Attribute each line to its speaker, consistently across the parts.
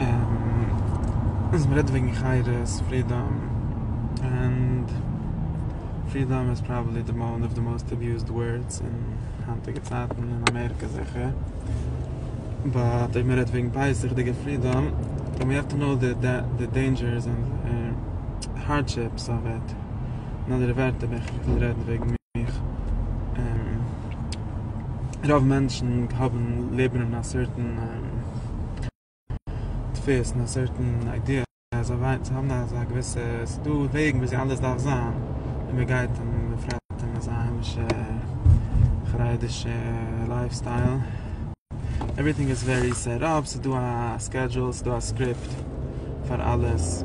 Speaker 1: און מען רעדט וועגן חירות, פרידאם, און פרידאם איז פראבעבלי די וואן אוו די מאוסט אביוזד ווארדס אין היינטיגע צייטן אין אמעריקע זיכער, באט אויב מען רעדט וועגן בייסיגדיגע פרידאם, דען ווי האו טו קנאו די דעינדזשערס און די הארדשיפס אוו איט, אין אנדערע ווערטער ווען איך וויל רעדן וועגן מיך, רוב מענטשן האבן, לעבן אין א סערטען. תופס אין א סערטען איידיע אז זיי וויילן זיי האבן אזא געוויסע ס'איז דא וועגן וויאזוי אלעס דארף זיין און מען גייט און מען פרעפט אין אזא היימישע חרדישע לייף סטייל עווריטינג איז ווערי סעט אפ ס'איז דא א סקעדזשול ס'איז דא א סקריפט פאר אלעס.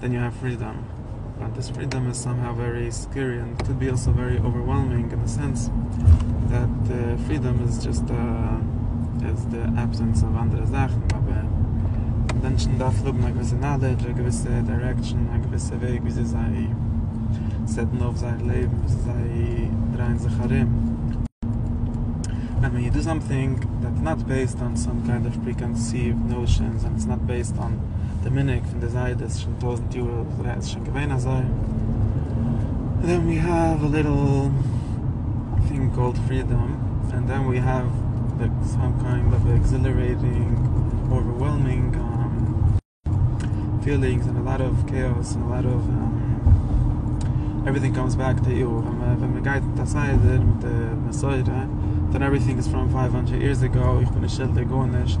Speaker 1: דען יו העוו פרידאם, באט דאס פרידאם איז סאם האו ווערי סקערי ענד קאוד בי אלסא ווערי אווערוועלמינג אין די סענס דעט פרידאם איז דזשאסט א איז די עבסענס אוו אנדערע זאכן אבער מענטשן דארפן האבן א געוויסע נאלעדזש א געוויסע דיירעקשאן א געוויסע וועג וויאזוי זיי סעטן אויף זייער לעבן וויאזוי זיי דרייען זיך ארום ענד ווען יו דא סאמטינג דעטס נאט בעיסד אן סאם קיינד אוו פרי קאנסיווד נאושענס ענד איטס נאט בעיסד אן די מנהג פון די זיידעס שוין טויזענט יאר אזוי אז עס איז שוין געווען אזוי דען ווי העוו א ליטעל טינג קאלד פרידאם ענד דען ווי העוו די סאם קיינד אוו עקזילערעטינג אווערוועלמינג פילינגס ענד א לאט אוו קעיאס ענד א לאט אוו עווריטינג קאמס בעק טו יו ווען מען גייט מיט א סדר מיט די מסורה דען עווריטינג איז פראם פייוו האנדרעט יערס עגאו איך בין נישט שולדיג גארנישט.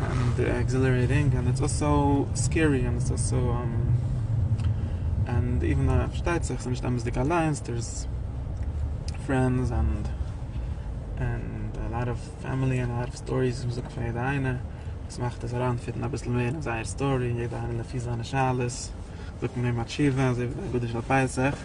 Speaker 2: און די
Speaker 1: עקזילערעיטינג און איטס אלסא סקערי און איטס אלסא און איווען די פארשטייט זיך ס'איז נישט אמת'דיג אליינס דער איז פרענדס און און א לאט אוו פעמילי און א לאט אוו סטאריס וואס מ'זאגט פון יעדע איינע וואס מאכט עס אריינפיטן אביסל מער אין זייער סטארי יעדע איינע לפי זיינע שאלות זאגט מען אים א תשובה אזוי ווי די אגודה של פסח.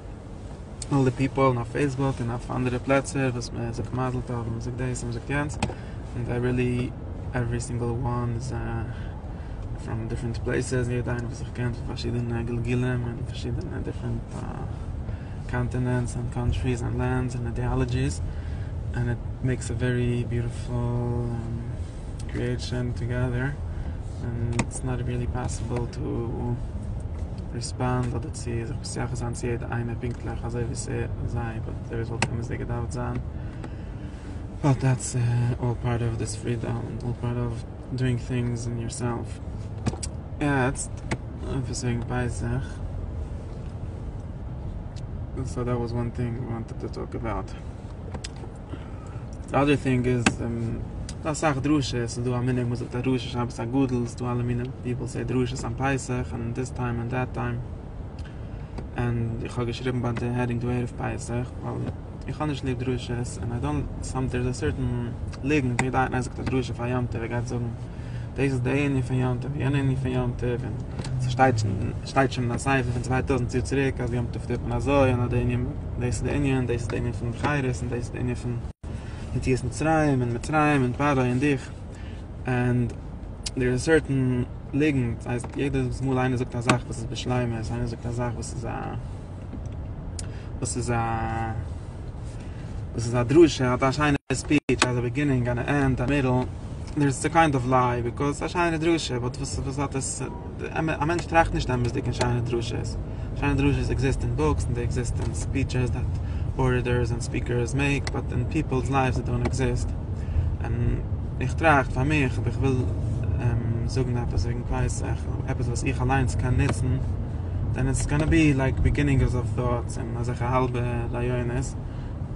Speaker 1: אלל די פיפעל און אויף פעיסבוק און אויף אנדערע פלעצער וואס מען זאגט מזל טוב און מען זאגט דאס און מען זאגט יענץ און זיי רילי עווערי סינגעל וואן איז פראם דיפרענט פלעיסעס און יעדע איינער וואס איך קען פון פארשידענע גלגולים און פארשידענע דיפרענט קאנטינענטס און קאנטריס און לענדס און אידעאלעדזשיס און איט מעיקס א ווערי ביוטיפול קריעטשען טאגעדער און איטס נאט רילי פאסיבעל טו ריספאנד אדער צו זיך. שייך זיין צו יעדע איינער פונקטליך אזוי ווי עס ער זיי וואלט אזוי ווי עס וואלט אמת'דיג געדארפט זיין ווייל דעטס אלל פארט אוו דיס פרידאם און אלל פארט אוו דואינג טינגס און יור סעלף יעצט עפעס וועגן פסח סאו דעט וואס וואן טינג ווי וואנטעד טו טאלק אבאוט די אדער טינג איז ס'דא אסאך דרשות ס'דא א מנהג מ'זאגט א דרשה שבת הגדול ס'דא אלע מיני פיפעל סעי דרשות אום פסח און דיס טיים און דעט טיים. און איך האב געשריבן ביי די העדינג דא ערב פסח ווייל איך האב נישט ליב דרשות און איי דאנט סאם דער איז א סערטען ליגענט ווי יעדע איינער זאגט א דרשה פאר יום טוב ער גייט זאגן דאס איז די ענין פון יום טוב יענע ענין פון יום טוב און ס'שטייט שטייט שוין אין א ספר פון צוויי טויזנט יאר צוריק אז יום טוב טוט מען אזוי און אז די ענין דאס איז די ענין דאס איז די ענין פון בחירות און דאס איז די ענין פון יציאת מצרים און מצרים און פרעה און דיך. ענד דער איז א סערטען ליגנט, דאס הייסט יעדעס מאל איינער זאגט א זאך וואס איז בשלימות, איינער זאגט א זאך וואס איז א וואס איז א וואס איז א דרשה, האט א שיינע ספיטש, האט א ביגינינג און א ענד, א מידל, דער איז קיינד אוו ליי, ביזקאוז ס'איז א שיינע דרשה, באט וואס האט עס? א מענטש טראכט נישט אמת'דיג אין שיינע דרשות, שיינע דרשות עקזיסט אין בוקס און זיי עקזיסט אין ספיטשעס דעט ארעטארס און ספיקערס מעיק, באט אין פיפעלס לייווס זיי דאנט עקזיסט, און איך טראכט פאר מיך אויב איך וויל זאגן עפעס וועגן קנאי שכל, עפעס וואס איך אליינס קען נוצן, דען איטס גאנא בי לייק ביגינינגס אוו טאטס און אזעלכע האלבע רעיונות.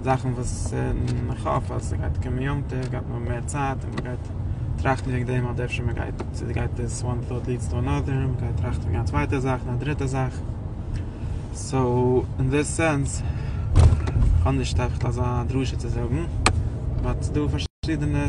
Speaker 1: זאכן וואס איך האף אז ס'גייט קומען יום טוב גייט מען האבן מער צייט און מ'גייט טראכטן וועגן דעם אדער אפשר מ'גייט צו די גייט דאס וואן טאוט ליעדס טו אנאדער און מ'גייט טראכטן וועגן א צווייטע זאך און א דריטע זאך סאו אין די סענס כ'האב נישט אזא דרשה צו זאגן באט ס'דא פארשידענע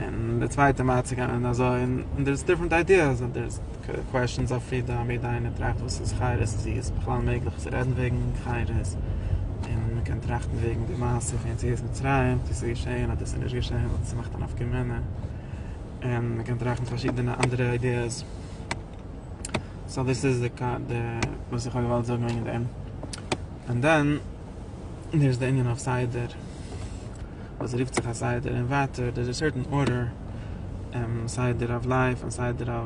Speaker 1: און די צווייטע מיידט צו גיין און אזוי, און דער איז דיפרענט איידיעס, און דער איז קוועשענס אויף פרידאם, יעדע איינער טראכט וואס איז חרוז, צו איז בכלל מעגליך צו רעדן וועגן חרוז, און מען קען טראכטן וועגן די מעשה פון יציאת מצרים, צו ס'איז געשעהן אדער ס'איז נישט געשעהן, וואס עס מאכט א נפקא מינה, און מען קען טראכטן פארשידענע אנדערע איידיעס. סאו דאס איז די וואס איך האב געוואלט זאגן וועגן דעם. און דען דער איז די ענין אויף סדר. וואס רופט זיך א סדר און ווייטער דער איז א סערטען ארדער סדר אוו לייף און סדר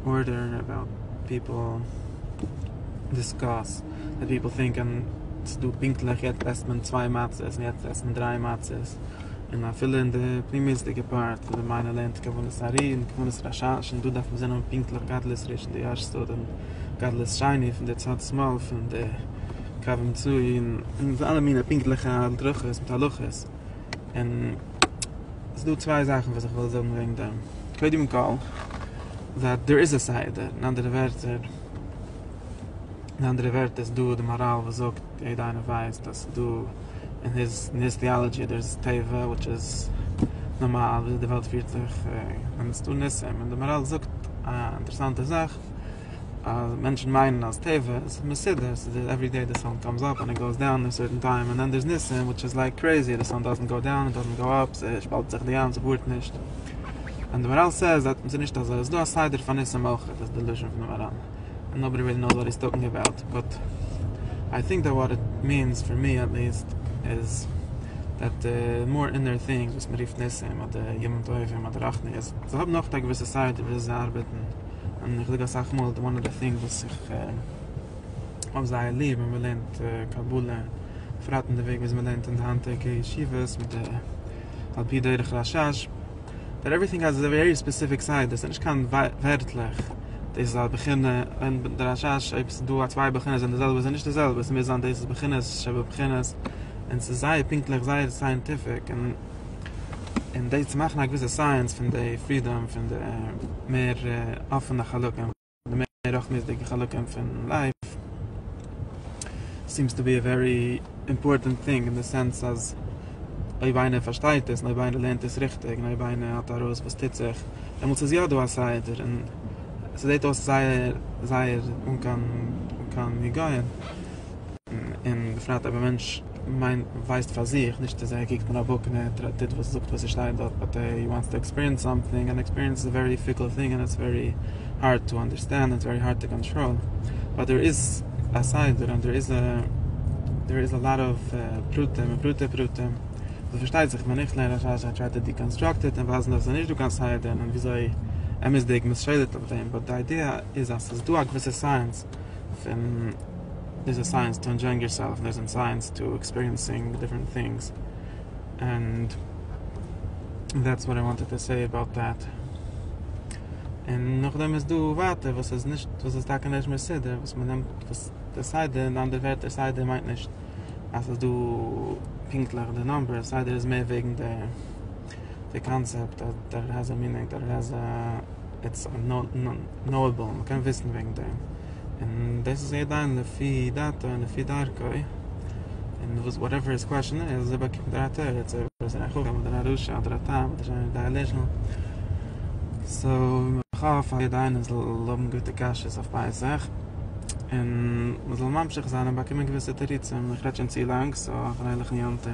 Speaker 1: אוו ארדער אבאוט פיפעל דיסקאס ווען פיפעל טינקען ס'דא פונקטליך יעצט עסט מען צוויי מצות און יעצט עסט מען דריי מצות און אפילו אין די פנימיות'דיגע פארט וואס די מיימאר לערנט כוונת הארי און כוונת רשש און דא דארף מען זען האבן פונקטליך גדלות ראשון די יארצייט און גדלות שני פון די צד שמאל פון די. קווים צו און און אלע מיני פונקטליכע הדרכות מיט הלכות און ס'איז דא צוויי זאכן וואס איך וויל זאגן וועגן דעם קודם כל זייט דער איז א סדר אין אנדערע ווערטער אין אנדערע ווערטער איז דא די מאראל וואס זאגט יעדע איינער ווייסט אז ס'איז דא אין היס אין היס טיאלעדזשי דער איז טבע וויטש איז נארמאל וויאזוי די וועלט פירט זיך און ס'איז דא ניסים און די מאראל זאגט א אינטערעסאנטע זאך. אז מענטשן מיינען אז טבע איז מסודר, ס'איז דא עווערי דעי די סאן קאמס אפ ענד גאוס דאון אין סערטען טיים און דען דער'ס ניסים וויטש איז לייק קרעיזי די סאן דאזענט גאו דאון, דאזענט גאו אפ, ס'שפאלט זיך די ים, ס'ווארט נישט. און די מאראל סעיז דעט ס'איז נישט אזוי, עס איז דא א סדר פאר ניסים אויך, דאס איז די לשון פון די מאראל. נאובאדי ריעלי נאוס וואט היז טאלקינג אבאוט, באט איי טינק דעט וואט איט מינס, פאר מי עט ליעסט, איז דעט די מאר אינער טינגס וואס מ'רופט ניסים אדער ימים טובים אדער רחניות, זיי האבן אויך א געוויסע סדר וויאזוי זיי ארבעטן. און איך זאג אסאך מאל וואן אוו די טינגס וואס איך האב זייער ליב ווען מ'לערנט קבלה, בפרט אין די וועג וויאזוי מ'לערנט אין די היינטיגע ישיבות מיט די על פי דרך רשש, דער עווריטינג האס א ווערי ספעסיפיק סייד, דאס איז נישט קיין ווערטלעך, דאס איז א בחינה אין די רשש, אויב ס'איז דא א צוויי בחינות זענען די זעלבע, זענען נישט די זעלבע, ס'מוז זיין דאס איז בחינות שבבחינות, און ס'איז זייער פונקטליך, זייער סייענטיפיק, און. און דאס צו מאכן א געוויסע סייענס פון די פרידאם פון די מער אפענע חלקים, די מער רחמיות'דיגע חלקים פון לייף, סיעמס טו בי א ווערי אימפארטענט טינג אין די סענס אז אויב איינער פארשטייט עס און אויב איינער לערנט עס ריכטיג און אויב איינער האט ארויס וואס טוט זיך, דעמאלטס איז יא דא א סדר און ס'זעט אויס זייער זייער אן קיין אן קיין היגיון, און בפרט אויב א מענטש. מיין ווייסט פאר זיך, נישט צו זיי קוקט מען אויף וואקנער, טרעט טוט וואס זאגט וואס ס'שטייט דארט באט די יו וואנטס טו עקספיריענס סאמטינג און עקספיריענס איז א ווערי פיקל טינג און איטס ווערי הארד טו אנדערסטענד און איטס ווערי הארד טו קאנטראל באט דער איז א סדר און דער איז א דער איז א לאט אוו פרטים און פרטי פרטים וואס פארשטייט זיך ווען איך לערן א שאלה זיי טריי טו דיקאנסטראקט איט און ווייזן אז עס איז נישט דא קיין סדר און וויאזוי אמת'דיג מ'איז שולט אויף דעם באט די איידיע איז אז ס'איז דא א געוויסע סייענס פון דאס איז סייענס טו ענדשויאינג יור סעלף, דאס איז סייענס טו עקספיריענסינג דיפרענט טינגס, ענד דעטס וואט איי וואנטעד טו סעי אבאוט דעט. און נאכדעם איז דא ווייטער וואס איז נישט, וואס איז טאקע נישט מסודר, וואס מען נעמט וואס די סדר, אין אנדערע ווערטער סדר מיינט נישט אז ס'איז דא פונקטליך די נומבערס, סדר איז מער וועגן די. די קאנצעפט אז דער רעזא מינען דער רעזא איטס נאועבעל מען קען וויסן וועגן דעם און דאס איז יעדע איינער לפי דעתו און לפי דרכו און וואס וואטעווער היז קוועשן איז אזוי באקומט ער א תירוץ אויב ער איז א חכם אדער א רשע אדער א תם אדער איינער דעליזשענעל סאו איך האף אז יעדע איינער זאל האבן גוטע קשיות אויף פסח און מען זאל ממשיך זיין און באקומען געוויסע תירוצים איך רעדט שוין צו לאנג סאו א פרייליכן יום טוב.